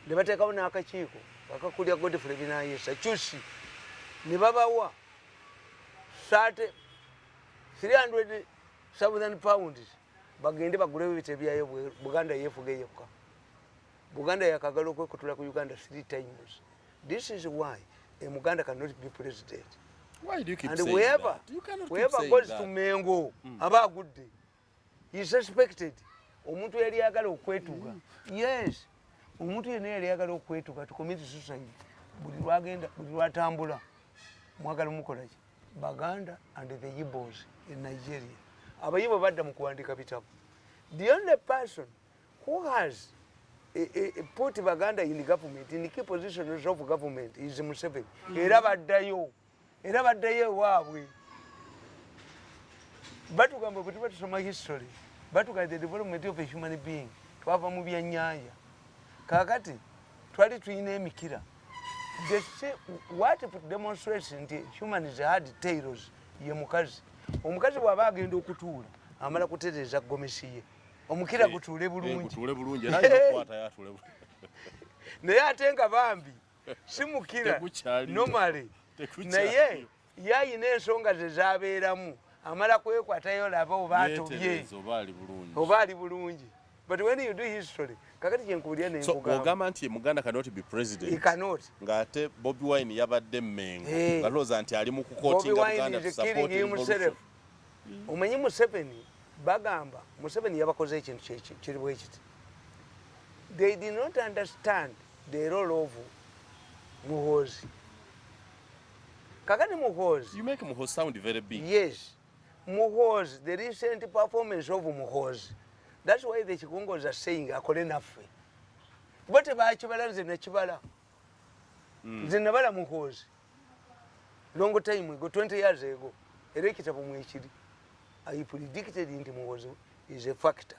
ne bateekawo n'akakiiko akakulira godfrey binayesa cusi ne babawa sate 300 southern pounds bagende bagulewo ebite byayo buganda yefuga yokka buganda yakagala okwekutula ku uganda three times this is why a muganda cannot be president why do you keep and whoever, whoever goes that? to mengo mm. aba agudde he suspected omuntu yali yagala okwetuga yes omuntu yena yali yagala okwetuga tukomiti susaid buli lwagenda buli lwatambula mwagala omukolaki baganda and the yibos in nigeria abayibo badda mu kuwandika bitabo the only person who has eh, eh, eh, put baganda in government in key positions of government is museveni mm. era baddayo era baddeyo ewaabwe batugamba bwetuba tusoma history batuga the development of a human being twava mu byenyanja kakati twali tulina emikira what demonstrates nti humans had tailos ye mukazi omukazi bwaba agenda okutuula amala kutereeza gomesi ye omukira gutuule bulungi naye ate nga bambi simukira nomale naye yayina ensonga ze zabeeramu amala kwekwatayo laba oba atobye oba ali bulungi but when you do history kakati kyenkubulira neogamba nti muganda cannot be president cannot ng'ate bobi wine yabadde mmengo eh. nga looza nti ali mu kukotingaomanyi mm. museveni bagamba museveni yabakoze ekintu kiri bwekiti they did not understand the role of muhozi kakati muhozi you make muhozi sound very big yes muhozi the recent performance of muhozi that's why the chikongozi are saying akole naffe kuba tebakibala nze nakibala hmm. nze nabala muhozi long time ago 20 years ago era ekitabo mwekiri i predicted nti muhozi is a factor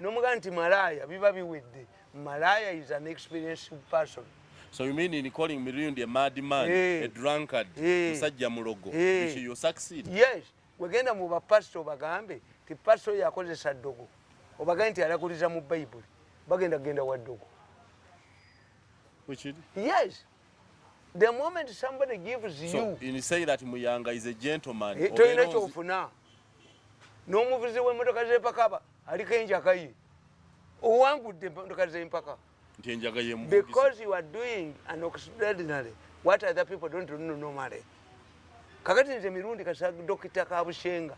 Nomuga nti malaya biba biwedde. Malaya is an experienced person. So you mean in calling Mirundi a mad man, hey. Eh. a drunkard, hey. Eh. musajja mulogo, hey. Eh. which you succeed? Yes. Wegenda mu ba pastor bagambe, ti pastor yakozesa dogo. Obagambe nti alakuliza mu Bible. Bagenda genda wa dogo. Which is? Yes. the moment somebody gives you so in say that muyanga is a gentleman eh, toyina kyofuna n'omuvuzi w'emmotoka z'empaka aliko enjaga ye owangudde emmotoka z'empaka nti enjaga ye because you are doing an extraordinary what other people don't know normally kakati nze mirundi kasa dokita kabushenga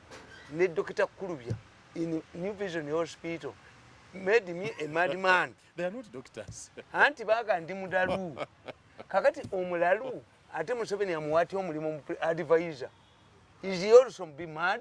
ne dokita kulubya in new vision hospital made me a mad man anti baga ndi mudalu kakati omulalu ate museveni amuwatya omulimu advisor is he also be mad